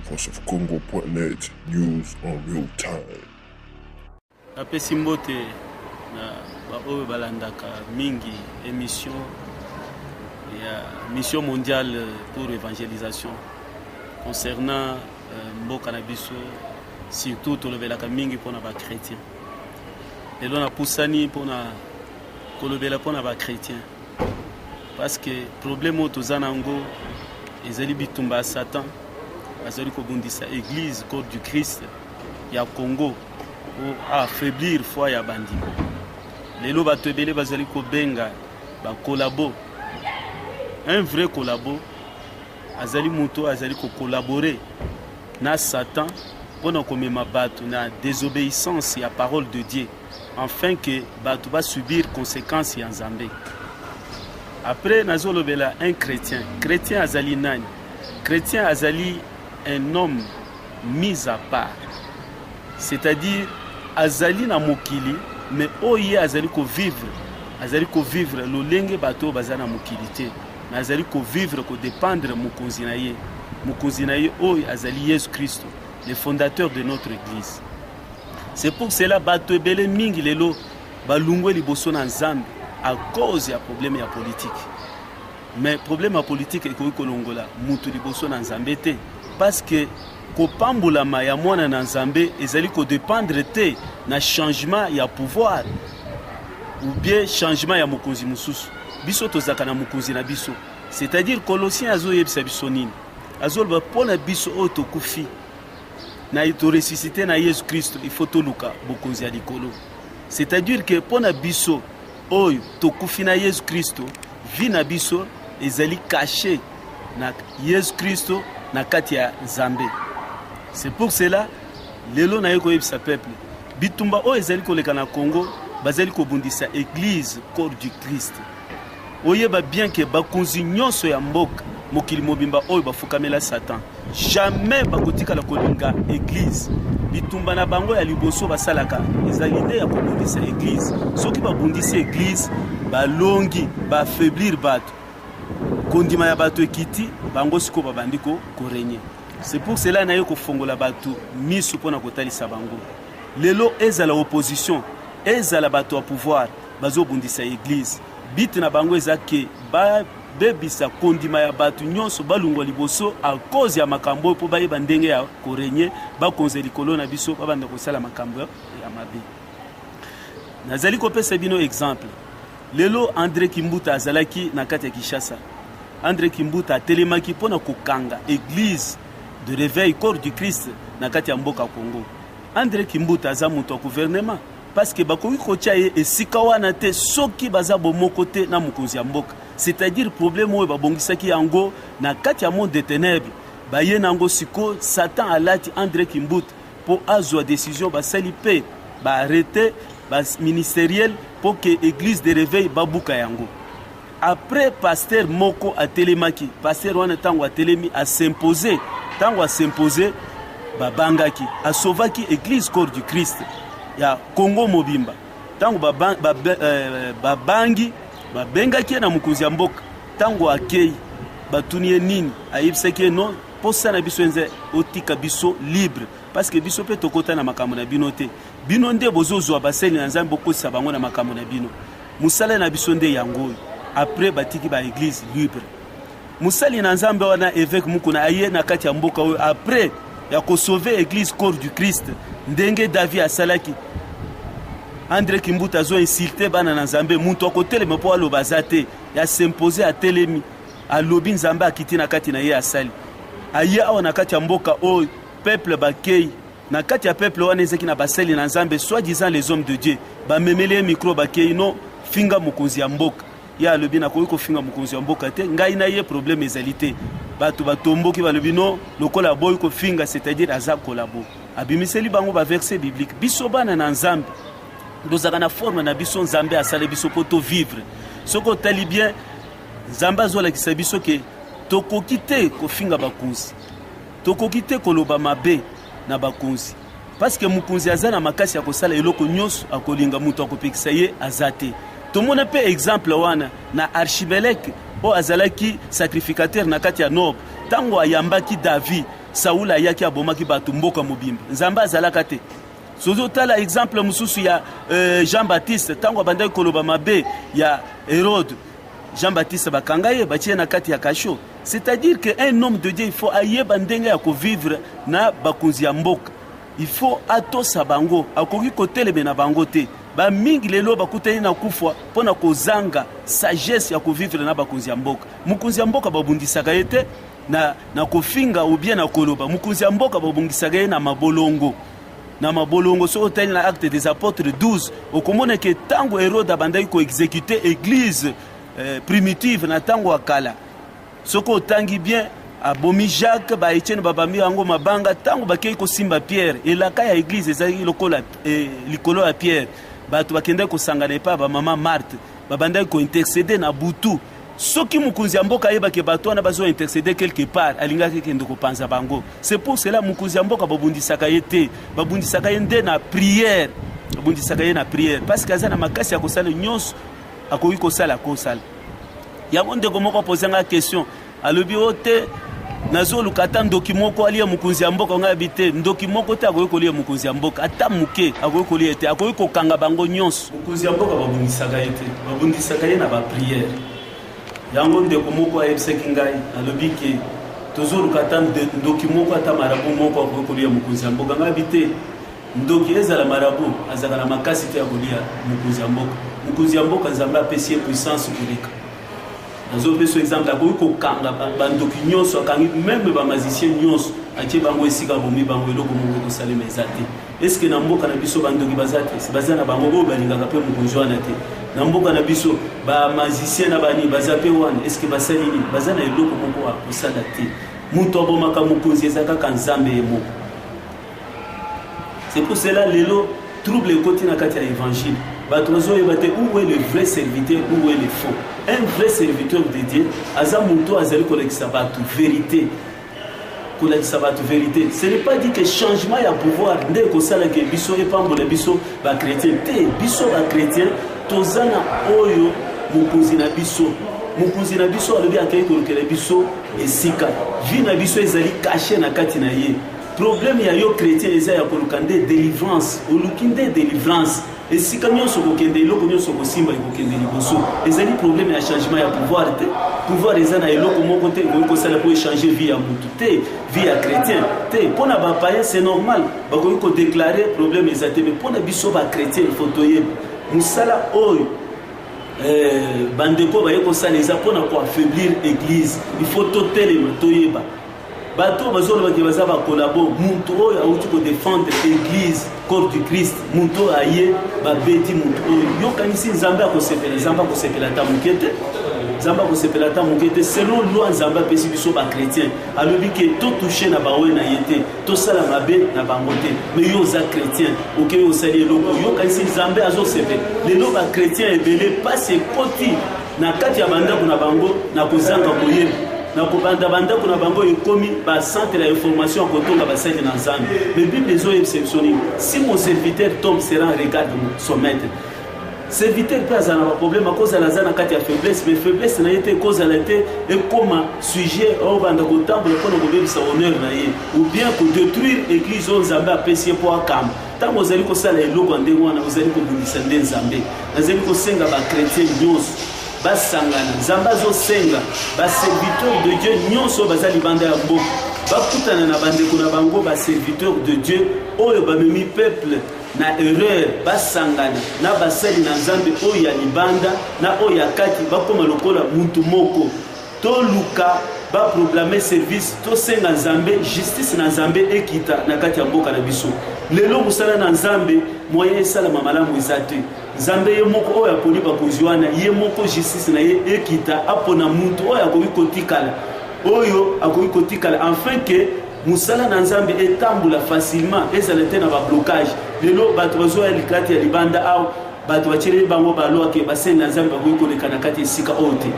voiceofcongo.net news en real time napesi mbote na baoyo balandaka mingi émission ya mission mondiale pour évangélisation concernant euh, mboka na biso surtout tolobelaka mingi mpona bachrétien lelo napusani mpona kolobela mpona bachrétien parce que problème oyo toza na yango ezali bitumba ya satan azali kobundisa église corps du christ ya congo po affaiblir foi ya bandimi lelo bato ebele bazali kobenga bakolabo un vrai kolabo azali moto azali kokolabore na satan mpo na komema bato na désobéissance ya parole de dieu enfin que bato ba subir conséquence ya nzambe après nazolobela un chrétien chrétien azali nani chrétien azali un homme mis à part c'est-à-dire azali na mokili mais oyo ye azali kovivre azali kovivre lolenge bato oyo baza na mokili te mais azali kovivre kodépendre mokonzi na ye mokonzi na ye oyo azali yesu kristo le fondateur de notre église C'est pour cela bato ebele mingi lelo balungwe liboso na Nzambe à cause ya problème ya politique. Mais problème ya politique ekoki kolongola mutu liboso na Nzambe te parce que kopambolama ya mwana na Nzambe ezali kodependre te na changement ya pouvoir ou bien changement ya mokonzi mosusu. Biso tozalaka na mokonzi na biso. C'est-à-dire Colossiens azoyebisa biso nini? Azoloba mpo na biso oyo tokufi na to ressuscite na yesu kristo il faut toluka bokonzi ya likolo c'est-à-dire que mpo na biso oyo tokufi na yesu kristo vi na biso ezali kashe na yesu kristo na kati ya nzambe c'est pour cela lelo naye koyebisa peuple bitumba oyo ezali koleka na congo bazali kobundisa eglise corps du christ oyeba bien ke bakonzi nyonso ya mboka mokili mobimba oyo bafukamela satan jamais bakotikala kolinga eglize bitumba na bango ya liboso basalaka ezali nde ya kobundisa eglize soki babundisi eglize balongi baaffaiblir bato kondima ya bato ekiti bango sikoyo babandi korenye c'est pour cela naye kofongola bato miso mpo na kotalisa bango lelo ezala opposition ezala bato ya pouvoir bazobundisa eglise bite na bango eza ke ba bebisa kondima ya bato nyonso balungwa liboso a cause ya makambo oyo mpo bayeba ndenge ya korenye bakonzi ya likolo na biso babanda kosala makambo ya mabe nazali kopesa bino exemple lelo andre kimbuta azalaki na kati ya kinshasa andre kimbuta atelemaki mpo na kokanga église de réveil corps du christ na kati ya mboka congo andre kimbuta aza moto ya gouvernement parce que bakoki kotya ye esika wana te soki baza bomoko te na mokonzi ya mboka c'est-à-dire problème oyo babongisaki yango na kati ya monde de ténèbres baye na yango sikoyo satan alati andre kimbuta mpo azwa décision basali mpe baarrete baministeriel mpo ke église de réveil babuka yango Après pasteur moko atelemaki, pasteur wana tango atelemi a s'imposer, tango a s'imposer babangaki, a sauvaki église corps du Christ ya Congo mobimba. Tango babangi ba, ba, euh, ba, ba, babengaki ye na mokonzi ya mboka, tango akei batuni ye nini, ayebisaki ye non mposa na biso enze otika biso libre parceke biso mpe tokota na makambo na bino te bino nde bozozwa basali na nzambe bokotisa bango na makambo na bino Musala na biso nde yango oyo. Après batiki ba eglise libre. Musali na Nzambe wana evêque Mukuna aye na kati ya mboka oyo après ya ko sauver eglise corps du Christ ndenge David asalaki. Andre Kimbuta azo insulter bana na Nzambe mutu akotelema mpo aloba aza te ya s'imposer atelemi alobi Nzambe akiti na kati na ye asali aye awa na kati ya mboka oyo peuple bakei na kati ya peuple wana ezaki na basali na nzambe soit disant les hommes de dieu bamemeli ye micro bakei no finga mokonzi ya mboka ye alobi nakoki kofinga mokonzi ya mboka te ngai na ye problème ezali te bato batomboki balobi no lokola aboyi kofinga c'est-à-dire aza kolabo abimiseli bango baverse biblique biso bana na nzambe tozalaka na forme na biso nzambe asali biso mpo tovivre soki otali bien nzambe azolakisa biso ke tokoki te kofinga bakonzi Tokoki te koloba mabe na bakonzi paske mokonzi aza na makasi ya kosala eloko nyonso akolinga, moto akopekisa ye aza te. Tomona mpe exemple wana na Archibeleke oyo azalaki sacrificateur na kati ya Nob, ntango ayambaki David, Saul ayaki abomaki bato mboka mobimba. Nzambe azalaka te sozo tala exemple mosusu ya euh, Jean Baptiste ntango abandaki koloba mabe ya Herode Jean Baptiste bakanga ye batie na kati ya kasho C'est-à-dire que un homme de Dieu il faut ayeba ndenge ya ko vivre na bakonzi ya mboka. Il faut atosa bango, akoki koteleme na bango te. Ba mingi lelo bakutani na kufa mpo na kozanga sagesse ya ko vivre na bakonzi ya mboka. Mokonzi ya mboka babundisaka ye te na, na kofinga ou bien na koloba. Mokonzi ya mboka babundisaka ye na mabolongo na mabolongo soki otali na acte des apôtres 12 okomona ke ntango herode abandaki koexekute eglise eh, primitive na ntango ya kala soki otangi bien abomi jacques baetienne babambi yango mabanga ntango bakei kosimba pierre elaka ya eglize ezalaki lokola eh, likolo ya pierre bato bakendaki kosangana epai ya bamama marte babandaki kointercede na butu soki mokonzi ya mboka ayebaki bato wana bazointercede quelque part alingaki kende kopanza bango c'est pour cela mokonzi ya mboka babundisaka ye te babundisaka ye nde na prière babundisaka ye na prière parce que aza na makasi ya kosala nyonso akoki kosala kosala yango ndeko moko apoze ngai question alobi o oh, te nazoluka ata ndoki moko alia mokonzi ya mboka ngai abi te ndoki moko te akoki kolia mokonzi ya mboka ata moke akoki kolia te akoki kokanga bango nyonso mokonzi ya mboka babundisaka ye te babundisaka ye na bapriere yango ndeko moko ayebisaki ngai alobi ke tozoluka ata ndoki moko ata marabu moko akoki kolia mokonzi ya mboka ngai abi te Ndoki ezala marabout azalaka na makasi te ya kolia mokonzi ya mboka. Mokonzi ya mboka Nzambe apesi ye puissance koleka. Nazopesa exemple akoki kokanga bandoki nyonso akangi meme ba magicien nyonso atie bango esika abomi bango eloko moko ekosalema eza te. Eske na mboka na biso bandoki baza te? Si baza na bango oyo balingaka mpe mokonzi wana te. Na mboka na biso ba magicien na bani baza mpe wana eske basali nini? Baza na eloko moko akosala te. Moto abomaka mokonzi eza kaka Nzambe ye moko. c'est pour cela lelo trouble ekoti na kati ya évangile bato bazoyeba te où est le vrai serviteur où est le faux un vrai serviteur de dieu aza moto oyo azali kolakisa bato vérité kolakisa bato vérité ce n'est pas dit que changement ya pouvoir nde ekosalaka biso epambola biso bachrétien te biso bachrétien toza na oyo mokonzi na biso mokonzi na biso alobi akei kolukela biso esika vi na biso ezali kashe na kati na ye Problème ya yo chrétien eza ya koluka nde délivrance, oluki nde délivrance. Esika nyonso kokende, eloko nyonso kosimba ekokende liboso. Ezali problème ya changement ya pouvoir te. Pouvoir eza na eloko moko te ekoki kosala mpo echanger vie ya mutu te, vie ya chrétien te. Mpo na bapaya c'est normal, bakoki kodeklare problème eza te, mais mpo na biso bachrétien il faut toyeba mosala oyo eh, bandeko baye kosala eza mpo na koaffaiblir église. Il faut totelema toyeba bato oyo bazoloba ke baza bakolabo moto oyo awuti kodefendre eglise corps du christ moto oyo aye babeti moto oyo yokanisi nzambe akosepela nzambe akosepela ata moke te nzambe akosepela ata moke te selon loi nzambe apesi biso bachrétien alobi ke totouche na bawe na ye te tosala mabe na bango te me yo oza chrétien okei osali eloko yokanisi nzambe azosepela lelo bachrétien ebele mpasi ekoti na kati ya bandako na bango na kozanga koyeba na kobanda bandako na bango ekomi bacentre ya information ya kotonga basali na nzambe me bible ezoyebisa biso nini si mon serviteur tombe sera regarde son maître serviteur mpe azala na baproblème akozala aza na kati ya faiblesse mais faiblesse na ye te ekozala te ekóma sujet obanda kotambola mpo na kobebisa honneur na ye ou bien kodétruire église oyo nzambe apesi ye mpo akamba ntango ozali kosala eloko ya ndenge wana ozali kobundisa nde nzambe nazali kosenga bakretien nyonso basangana nzambe azosenga baserviteur de dieu nyonso baza libanda ya mboka bakutana na bandeko na bango baserviteur de dieu oyo bamemi peuple na erreur basangana na basali na nzambe oyo ya libanda na oyo ya kati bakóma lokola mutu moko toluka ba programme service tosenga nzambe justice na nzambe ekita na kati ya mboka na biso lelo mosala na nzambe moyen esalama malamu eza te nzambe ye moko oyo aponi bakonzi wana ye moko justice na ye ekita apona mutu oyo akoki kotikala oyo akoki kotikala enfin ke mosala na nzambe etambola facilement ezala te na bablocage lelo bato bazoya likati ya libanda awa Bato batyeleli bango balwa ke basali na Nzambe bakoki koleka na kati esika oyo te.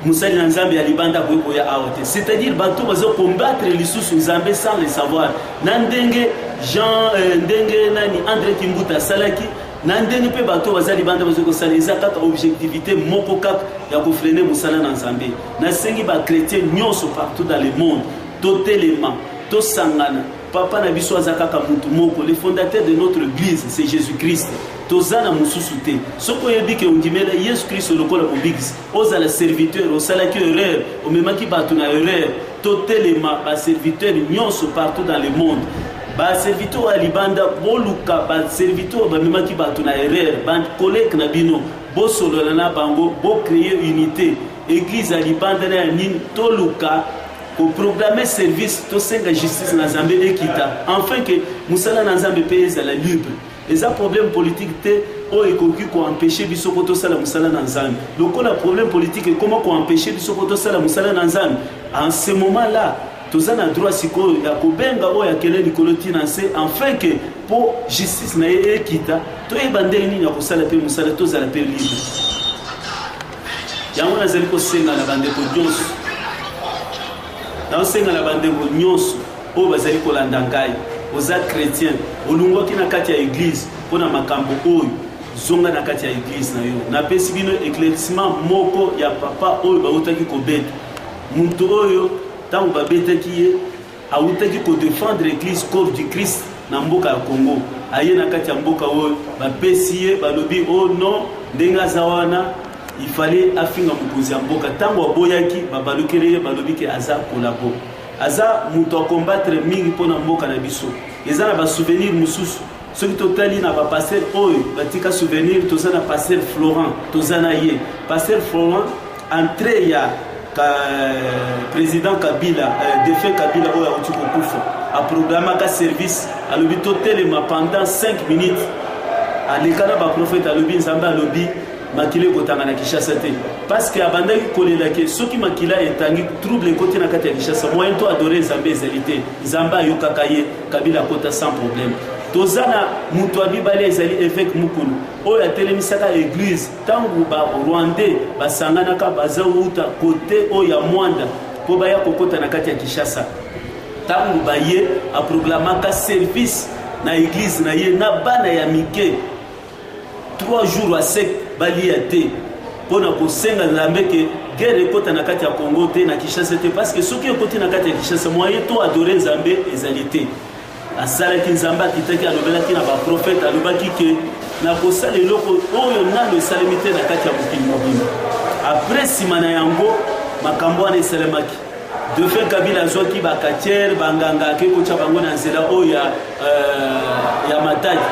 Mosali na Nzambe ya libanda akoki koya awa te. C'est-à-dire bato bazo combattre lisusu Nzambe sans le savoir. Na ndenge Jean euh, ndenge nani Andre Kimbuta asalaki na ndenge mpe bato baza libanda bazo kosala eza kaka objectivité moko kaka ya kofrene mosala na Nzambe. Nasengi ba chrétiens nyonso partout dans le monde totelema tosangana Papa na biso aza kaka mutu moko, le fondateur de notre église c'est Jésus-Christ. Toza na mususu te. Soko oyebi ke ondimela Yesu Kristo lokola mobikisi, ozala serviteur, osalaki erreur, omemaki bato na erreur, totelema ba serviteurs nyonso partout dans le monde. Ba serviteurs ya libanda boluka ba serviteurs bamemaki bato na erreur, ba collègues na bino bosolola na bango, bo créer unité. Église ya libanda na ya nini toluka ko programmer service tosenga justice na nzambe ekita enfin ke mosala na nzambe mpe ezala libre eza problème politique te oyo ekoki koempeshe biso mpo tosala mosala na nzambe lokola problème politique ekoma koempeshe biso mpo tosala mosala na nzambe en ce moment là toza na droit sikoyo ya kobenga oyo akele likolo ti na nse enfin ke mpo justice na ye ekita toyeba ndenge nini ya kosala mpe mosala tozala mpe libre yango nazali kosenga na bandeko nyonso naosenga na bandeko nyonso oyo bazali kolanda ngai oza chrétien olungwaki na kati ya eglize mpo na makambo oyo zonga na kati ya eglize na yo napesi bino éclaircissement moko ya papa oyo bautaki kobeta moto oyo ntango babetaki ye awutaki ko defendre eglise corps du christ na mboka ya congo aye na kati ya mboka oyo bapesi ye balobi o oh non ndenge aza wana ifale afinga mokonzi ya mboka ntango aboyaki babalukeli ye balobi ke aza kolabo aza moto akombatre mingi mpo na mboka na biso eza na basouvenir mosusu soki totali na bapaster oyo batika souvenir toza na paster florent toza na ye paster florent Entree ya ka, president Kabila eh, defunt Kabila oyo auti kokufa aprogramaka service alobi totelema pendant 5 minutes aleka na baprofete alobi nzambe alobi makila ekotanga na kinshasa te parce que abandaki kolela ke soki makila etangi trouble ekoti na kati ya kinshasa moyen to adore nzambe ezali te nzambe ayokaka ye kabila akota sans problème toza na moto ya mibale ezali eveke mukulu oyo atelemisaka eglise Tango ba Rwandais basanganaka baza wuta kote oyo ya Mwanda mpo baya kokota na kati ya Kinshasa, tango baye aproglamaka service na eglise na ye na bana ya mike 3 jours a sec balia te mpo na kosenga nzambe ke guerre ekota na kati ya congo te na kinshasa te parce que soki ekoti na kati ya kinshasa moyen to adore nzambe ezali te asalaki nzambe akitaki alobelaki na baprofete alobaki ke nakosala eloko oyo nano esalemi te na kati ya mokili mobimba apres nsima na yango makambo wana esalemaki defe kabila azwaki bakatiere banganga ake kotya bango na nzela oyo ya, uh, ya mataki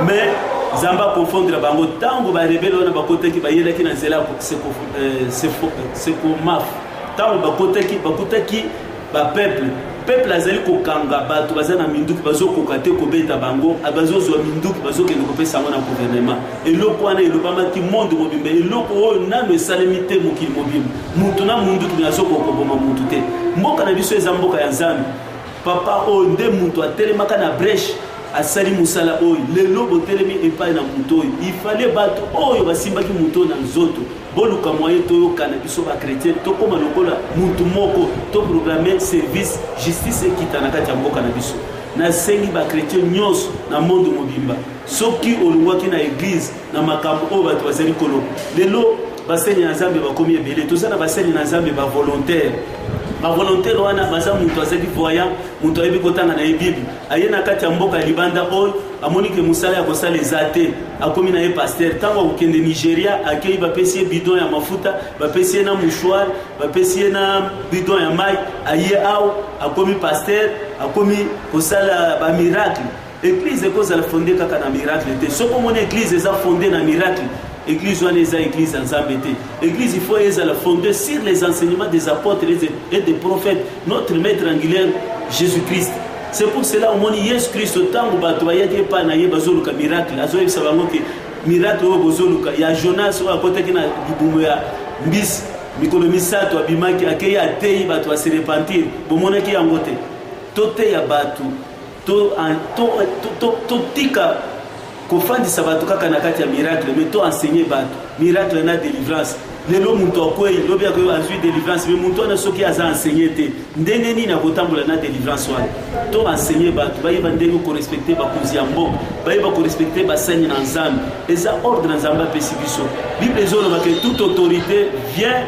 mais nzambe akonfondre bango ntango barebele wana bakotaki bayelaki na nzela ya sekomaf eh, ntango bakotaki bakutaki ba peuple peuple azali kokanga bato baza na minduki bazokoka te kobeta bango ah, bazozwa minduki bazokende kopesa yango na guvernema eloko wana elobamaki monde mobimba eloko oyo nano esalemi te mokili mobimba moto na munduki me azokoka koboma motu te mboka na biso eza mboka ya nzambe papa oyo nde moto atelemaka na breche asali mosala oyo lelo botelemi epai na moto oyo ifale bato oyo basimbaki moto na nzoto boluka moyen toyokana biso bachrétien tokóma lokola mutu moko toprograme service justice ekita na kati ya mboka na biso nasengi bachrétien nyonso na monde mobimba soki olongwaki na eglize na makambo oyo bato bazali koloba lelo baseni na nzambe bakomi ebele toza na baseni na nzambe bavolontaire bavolontaire wana baza moto azali voyant moto ayebi kotanga na ye bible aye na kati ya mboka ya libanda oyo amoni ke mosala ya kosala eza te akomi na ye paster ntango akokende nigeria akei bapesi ye bidon ya mafuta bapesi ye na mouchoir bapesi ye na bidon ya mai aye awa akomi paster akomi kosala bamiracle eglize ekozala fonde kaka na miracle te soki omoni eglize eza fonde na miracle Église wana eza église ya Nzambe te. Église il faut ezala fondée sur les enseignements des apôtres et des prophètes, notre maître angulaire Jésus-Christ. C'est pour cela omoni Yesu Kristo ntango bato bayaki epai na ye bazoluka miracle azoyebisa bango te miracle oyo bozoluka ya Jonas oyo akotaki na libumu ya mbisi mikolo misato abimaki akei ateyi bato ya se repentir bomonaki yango te toteya bato totika kofandisa bato kaka na kati ya miracle me to enseigner bato miracle na délivrance lelo moto akwei lobi akoyo azwi délivrance me moto wana soki aza enseigner te ndenge nini akotambola na délivrance wana to enseigner bato bayeba ndenge korespecte bakonzi ya mboka bayeba korespecte basani na nzambe eza ordre nzambe apesi biso bible ezolobake toute autorité vient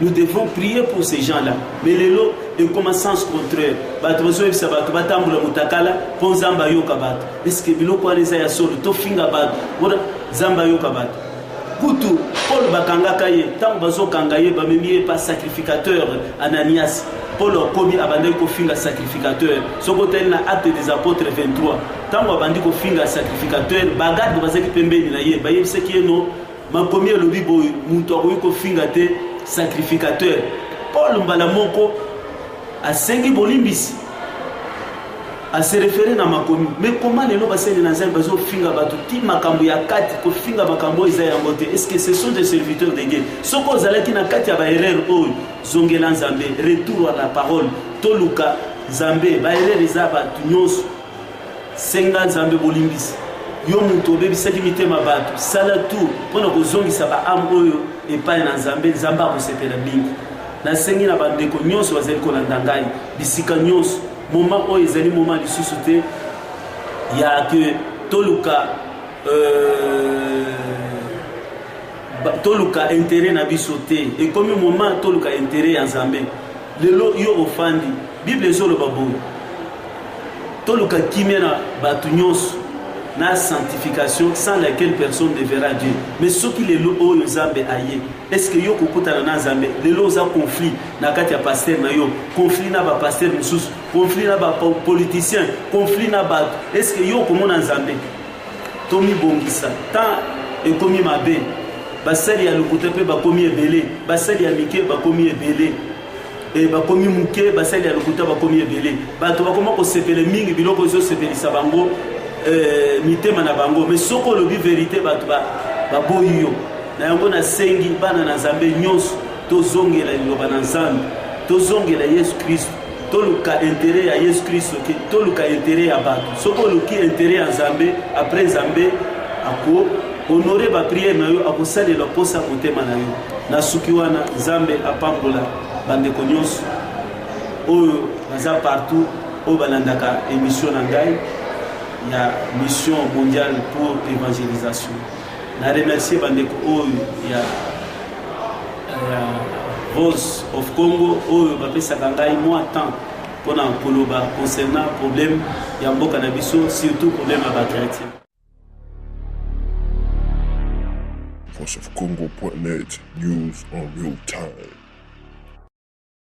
Nous devons prier pour ces gens-là. Mais lelo ekoma sens contraire. Bato bazoyebisa bato batambola mutakala mpo Nzambe ayoka bato. Eske biloko wana eza ya solo? Tofinga bato mpona Nzambe ayoka bato. Kutu Paul bakangaka ye ntango bazokanga ye bamemi ye pa sacrificateur Ananias. Paul akomi abandaki kofinga sacrificateur. Soki otali na Actes des Apôtres 23 ntango abandi kofinga sacrificateur, bagarde bazalaki pembeni na ye bayebisaki ye no Makomi elobi boye, moto akoki kofinga te sacrificateur. Paul mbala moko asengi bolimbisi aserefere na makomi me koma lelo basali na nzambe bazofinga bato ti makambo ya kati kofinga makambo oyo eza yango te estce que ce sont des serviteurs de dieu soki ozalaki na kati ya baerreur oyo zongela nzambe retour à la parole toluka nzambe baerreur eza bato nyonso Senga Nzambe bolimbisi. Yo mutu obebisaki mitema bato, sala tout mpo na kozongisa ba ame oyo epai na Nzambe. Nzambe akosepela mingi. Nasengi na bandeko nyonso bazali kolanda ngai bisika nyonso, moma oyo ezali moma lisusu te ya ke toluka euh, toluka interet na biso te, ekomi moma toluka interet ya Nzambe. lelo yo ofandi bible ezoloba boye toluka kimia na bato nyonso na sanctification sans laquelle personne ne verra dieu mais soki lelo oyo nzambe aye estce yo kokutana na nzambe lelo oza conflit na kati ya paster na yo conflit na bapaster mosusu conflit na bapoliticien conflit na bato estce yo okomona nzambe Tomibongisa, temps ekomi mabe, basali ya lokuta mpe bakomi ebele, basali ya mike bakomi ebele e bakomi moke, basali ya lokuta bakomi ebele, bato bakoma kosepele mingi biloko ezosepelisa bango e, mitema na bango. Me soko olobi verite, bato baboyi yo. Na yango nasengi bana na Nzambe nyonso tozongela liloba na Nzambe, tozongela Yesu Kristo. toluka interet ya yesu kristo te toluka interet ya bato soki oluki interet ya nzambe après nzambe ako honore bapriere na yo akosalela mposa ya motema na yo nasuki wana nzambe apambola bandeko nyonso oyo baza partout oyo balandaka émission na ngai ya mission mondiale pour évangélisation Na remercier bandeko oyo ya Voice of Congo oyo bapesaka ngai mwa temps mpo na koloba concernant problème ya mboka na biso surtout problème ya bachrétien voiceofcongo.net news en real time